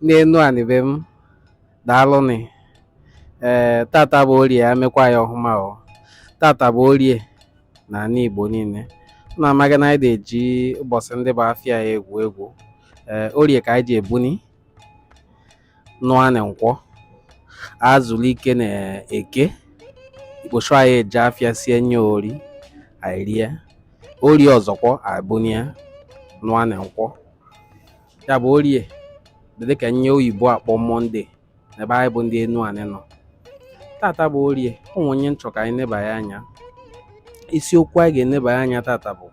n'enu anị be m daalụnị ee eh, tata bụ orie ya mekwa ya ọhụma o tata bụ orie na anị Igbo niile na amaga na anyị adị eji ụbọsị ndị bụ afịa ya egwu egwu ee eh, orie ka anyị ji ebuni nụa na nkwọ ezulu ike na eke ikposho anyị eje afịa sie nye ori anyị rie orie ọzọkwa ebunie nụa na nkwọ ya bụ orie dị dịka nye oyibo akpọ monde n'ebe anyị bụ ndị enu anị nọ tata bụ orie o nwe nye m chọ ka anyị nebanye anya isiokwu anyị ga-enebanye anya tata bụ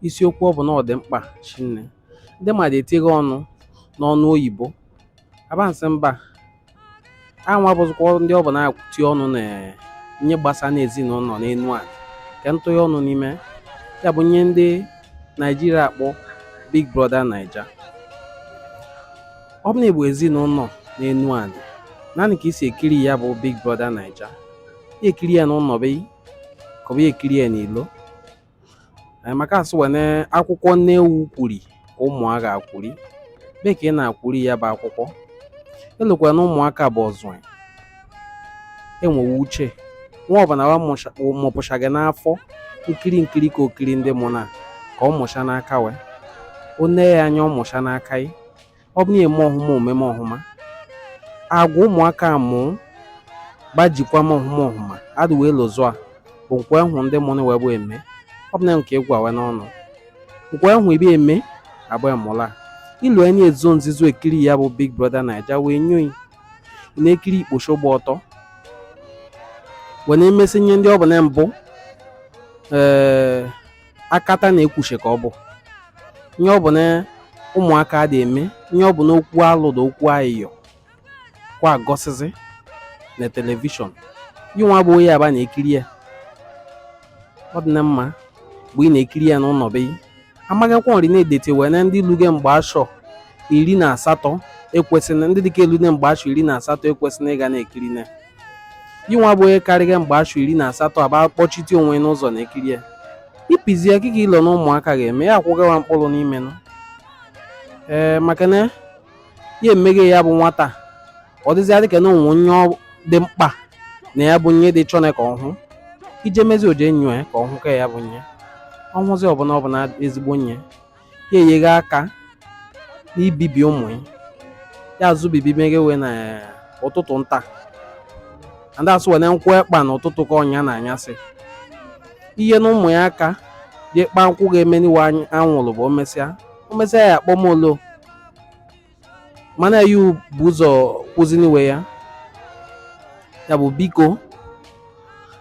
isiokwu ọ bụ na ọ dị mkpa shinne ndị mmadụ etiga ọnụ n'ọnụ oyibo abansị mba anwa bụzikwa ndị ọ bụ na-akwụti ọnụ na nye gbasa n'ezinụnọ n'enu anị ka ntụnye ọnụ n'ime ya bụ nye ndị naijiria akpọ big brother naija ọ bụ na ị bụ ezinụnọ n'enu anị naanị ka i si ekiri ya bụ big brother naija ya ekiri ya n'ụnọ be ka ọ bụ ekiri ya n'ilo maka asị wene akwụkwọ nne ewu kwuri ka ụmụ a ga-akwuri be ka ị na-akwuri ya bụ akwụkwọ elokwa na ụmụaka bụ ọzụ enwewe uche nwa ọbụna wa mụpụsha ga n'afọ nkiri nkiri ka o kiri ndị mụnụ a ka ọ mụsha n'aka wee o nee ya anya ọ mụsha n'aka yi ọ bụ na eme ọhụma omume ọhụma agwa ụmụaka mụ gbajikwa m ọhụma ọhụma adị wee lụzụ a bụ nke we hụ ndị mụnụ wee bụ eme ọ bụ na nke egwu awe n'ọnụ nke we hụ ibe eme abụ emụla ilu enyi ezo nzizo ekiri ya bụ big brother naija wee nyo yi na-ekiri ikposho gba ọtọ wee na-emesi nye ndị ọ bụ na mbụ ee akata na-ekwushe ka ọ bụ nye ọ bụ na ụmụaka adị eme nye ọ bụ na okwu alụ na okwu ayịyọ kwa agọsịzi na telivishọn yịnwa bụ onye aba na-ekiri ya ọ dị na mma bụ ị na-ekiri ya n'ụnọ be yi amaghịkwa nri na-edete wee na ndị luge mgbe ashọ iri na asatọ ekwesịrị ndị dịka elu mgbe ashọ iri na asatọ ekwesịrị ịga na-ekiri na yịnwa bụ onye karịga mgbe ashọ iri na asatọ aba kpọshite onwe n'ụzọ na-ekiri ya ipizi ya kịka i lo na ụmụaka ga-eme ya akwụgawa mkpụlụ n'ime nụ ee maka na ya emeghe ya bụ nwata ọ dịzịa dịka na o nwe nye ọ dị mkpa na ya bụ nye dị chọna ka ọ hụ i je mezi o je enyo ya ka ọ hụ ka ya bụ nye ọ hụzi ọ bụ na ọ bụ na ezigbo nye ya enyeghị aka n'ibibi ụmụ ya ya azụ bibi meghe wee na ụtụtụ nta ndị asụ wene nkwụ ekpa na ụtụtụ ka ọ nya na anyasị ihe na ụmụ ya aka jee kpaa nkwụ ga-emeni we anwụrụ bụ omesịa omesịa ya akpọmolo mana ya bụ ụzọ kwụzini we ya ya bụ biko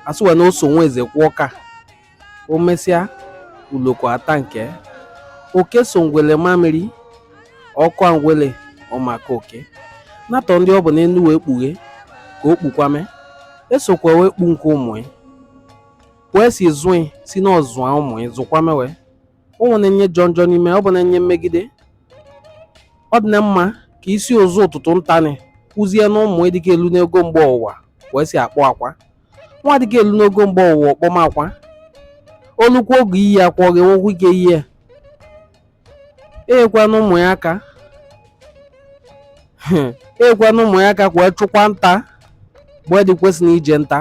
asụwa na oso nwa eze kwụọ ka o mesịa uloko ata nke oke so ngwele ma mmiri ọ kọ ngwele ọ ma akọ oke natọ ndị ọ bụ n'elu wee kpughe ka o kpukwame esokwa wee kpu nke ụmụ ya wee si zụị si n'ọzụa ụmụ ya zụkwame wee ụmụ na-enye jọ njọ n'ime ọ bụ na-enye mmegide ọ dị na mma ka i si ụzọ ụtụtụ ntanị kụzie na ụmụ dịka elu n'ogo mgbe ụwa wee si akpọ akwa nwa dịka elu n'ogo mgbe ọwụwa ọ kpọma akwa o lukwu oge iyi akwa ọ ga-enwekwu ike iyi ya enyekwana ụmụ ya aka enyekwana ụmụ ya aka kwee chụkwa nta mgbe dị kwesịrị ije nta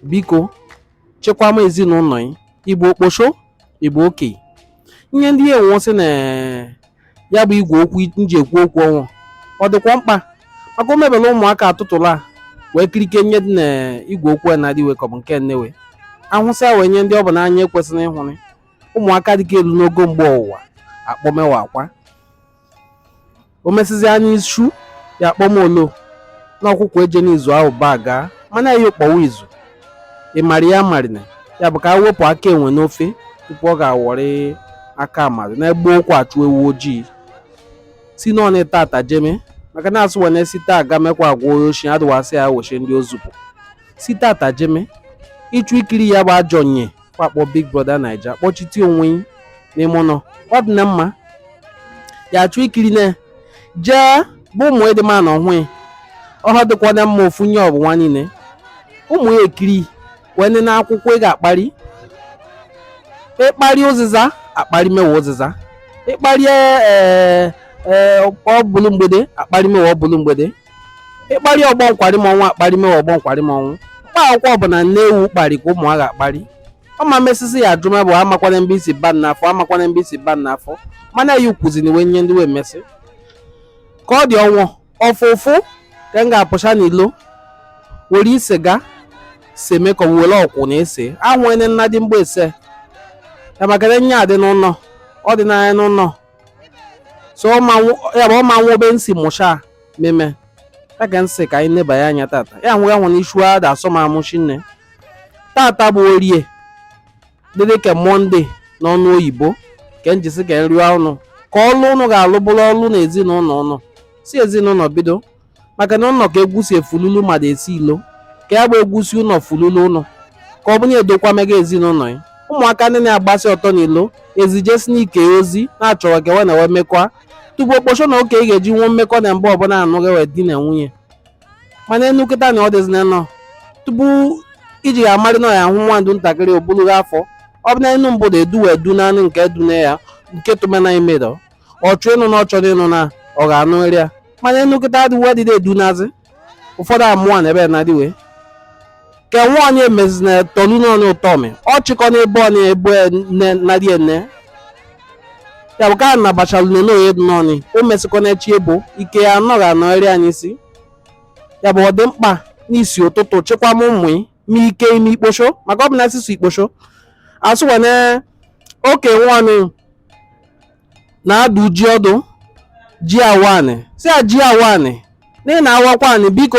biko chekwama ezinụlọ ya ị bụ okposho ị bụ oke ihe ndị enwesị na ya bụ igwe okwu m ji ekwu okwu ọnwụ ọ dịkwa mkpa maka o mebela ụmụaka atụtụla wee kirike nye dị na igwe okwu a na-adịwe ka ọ bụ nke nnewe ahụsịa wee nye ndị ọ bụ n'anya ekwesịrị ịhụrị ụmụaka dịka elu n'ogo mgbe ọwụwa akpọmewa akwa o mesịzịa n'isu ya akpọmolo na ọkwụkwọ eje n'izu ahụ baa gaa mana ya kpọwa izu ị mara ya marina ya bụ ka a wepụ aka enwe n'ofe tupu ọ ga-awọrị aka mmadụ na gboo ka achụ ewu ojii si n'ọnụ taata jeme maka na asụ wene si taa gamekwa agwa oshi adịwasị ya weche ndị o zupụ si taata jeme ị chọ ikiri ya bụ ajọ nye wa akpọ big brother naija kpọchite onwe ya n'ime ụlọ ọ dị na mma ya achọ ikiri na jee bụ ụmụ ịdị mma na ọhụụ ọhụ dịkwa na mma ofu nye ọbụwa niile ụmụ ya ekiri wee nene akwụkwọ ị ga-akpari ịkpari ụzịza akpari mewe ụzịza ịkpari ọbụlụ mgbede akpari mewe ọbụlụ mgbede ịkparị ọgbọ nkwari m ọnwụ akparị mewe ọgbọ nkwari m ọnwụ mkpa akwụkwọ ọbụna nne ewu kparị ka ụmụ ha ga-akparị ọma mesịsị ya ajụma bụ amakwana mbe isi ban n'afọ amakwana mbe isi ban n'afọ mana ya ukwuziri wee nye ndị wee mesị ka ọ dị ọnwụ ọfụfụ ka m ga-apụcha n'ilo were siga seme ka were ọkwụ na-ese ahụne nna dị mgbe ese ya maka na nye adị n'ụlọ ọ dị n'anya n'ụlọ so ya bụ ọ ma nwa obe nsi mụcha meme ya ka nsị ka anyị nebanye anya tata ya nwụrụ anwụ na ichu ada asọ m amụchi nne tata bụ orie dịdị ka mọnde n'ọnụ oyibo ka njisi karị ụnụ ka ọlụ ụnụ ga-alụ bụrụ ọlụ na ezinụnọ ụnụ si ezinụnọ bido maka na ụnọ ka egwu si efululu mmadụ esi ilo ka ya bụ egwu si ụnọ fululu ụnọ ka ọ bụ na edokwa mega ezinụlọ ya ụmụaka ndị na-agbasi ọtọ n'ilo ezijesi n'ike ozi na-achọrọ ka ewe na-enwe mmekọ tupu okposho na oke ị ga-eji nwe mmekọ na mgbe ọbụla anụ gị wee di na nwunye mana enu kịta na ọ dịzi na nọ tupu iji ya amarị na ya ahụ nwa ndụ ntakịrị obulughị afọ ọ bụ na enu mbụ da edu wee du naanị nke dune ya nke tụmena imedọ ọ chọ ịnụ na ọ chọrọ ịnụ na ọ ga-anụrị ya mana enu kịta adịwo adịdị edu nazi ụfọdụ amụọ na ebe na dịwe ke nwa onye mezi na tọlu na onye ụtọ mi ọ chịkọ na ebe onye ebe nne na dị ene ya bụ ka a nabachalu na n'oye dị n'ọnị o mesịkọ na echi ebo ike ya anọghị anọgharị anyị si ya bụ ọ dị mkpa n'isi ụtụtụ chịkwama ụmụ ma ike ime ikposho maka ọ bụ na asụsụ ikposho asụwane oke nwanụ na-adụ ji ọdụ ji awa anị sị ya ji awa anị na ị na-awakwa anị biko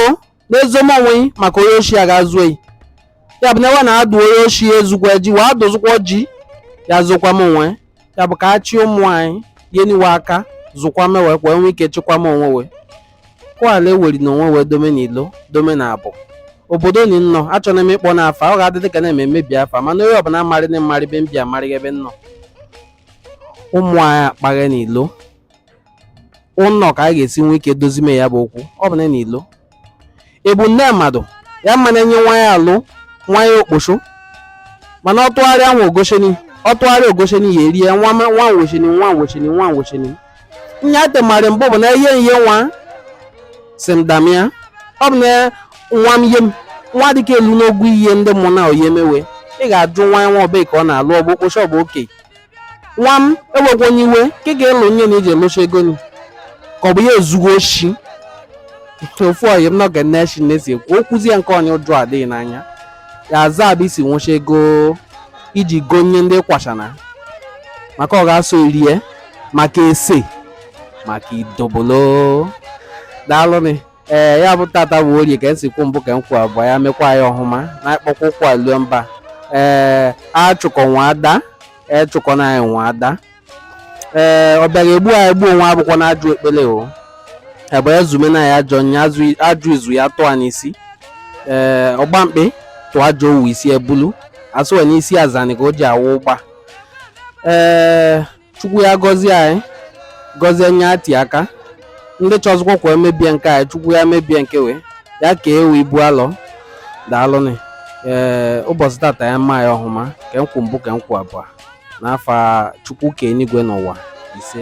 na-ezoma onwe gị maka onye oshi aga-ezu gị ya bụ na ewe na-adụ onye oshi ezukwa ji wee adụzụkwa ji ya zokwama onwe ya bụ ka a chịa ụmụ anyị nyenị we aka zụkwama ewe ka ewe nwe ike chịkwama onwe we kwala eweri na onwe we dome na ilo dome na abụ obodo ni nnọ achọrọ m ịkpọ n'afa ọ ga-adị dịka na-eme mmebi afa mana onye ọbụna amarị na m marị be m bi amarị ebe nnọ ụmụ anyị akpaghe na ilo ụnọ ka a ga-esi nwee ike dozime ya bụ okwu ọ bụ na na ilo ebu nne mmadụ ya mma na-enye nwa ya alụ nwa ya okposo mana ọ tụgharịa nwa ogosheni ọ tụgharịa ogosheni ya erie nwa ma- nwa nwocheni nwa nwocheni nwa nwocheni nya atemari mbụ bụ na ihe ihe nwa si m damia ọ bụ na nwa m ihe m nwa dịka elu n'ogwu ihe ndị mụ na oyi emewe ị ga-ajụ nwa ya nwa ọbụla ka ọ na-alụ ọ bụ okposo ọ bụ oke nwa m ewekwana iwe ka ị ga-elu onye na iji elocha ego ni ka ọ bụ ya ezugo oshi ofu oyi m nọ ga na-eshi na-esi ekwu okwuzi ya nke onye ụjọ adịghị n'anya ya aza ebe i si nwecha ego iji gonye ndị kwachana maka ọ ga-eso rie maka ese maka idobolo daalụnị ee ya bụ tata bụ orie ka esi kwu mbụ ka m kwụ abụọ ya mekwa anyị ọhụma na akpọkwa ụkwụ alue mba ee achụkọ nwe ada echụkọ na anyị nwe ada ee ọ bịara egbu anyị gbuo onwe abụkwọ na ajọ ekpele o ebe ezume na ya ajọ nya ajọ izu ya tụọ n'isi ee ọgba mkpị tụọ ajọ owu isi ebulu asụwe n'isi azani ka o ji awụ ụgba ee chukwu ya gọzie anyị gọzie nye ati aka ndị chọzụkwa ka e mebie nke anyị chukwu ya mebie nke we ya ka we ibu alọ daalụnị ee ụbọchị tata ya mma ya ọhụma ka nkwụ mbụ ka nkwụ abụọ n'afa chukwu ka enigwe n'ụwa ise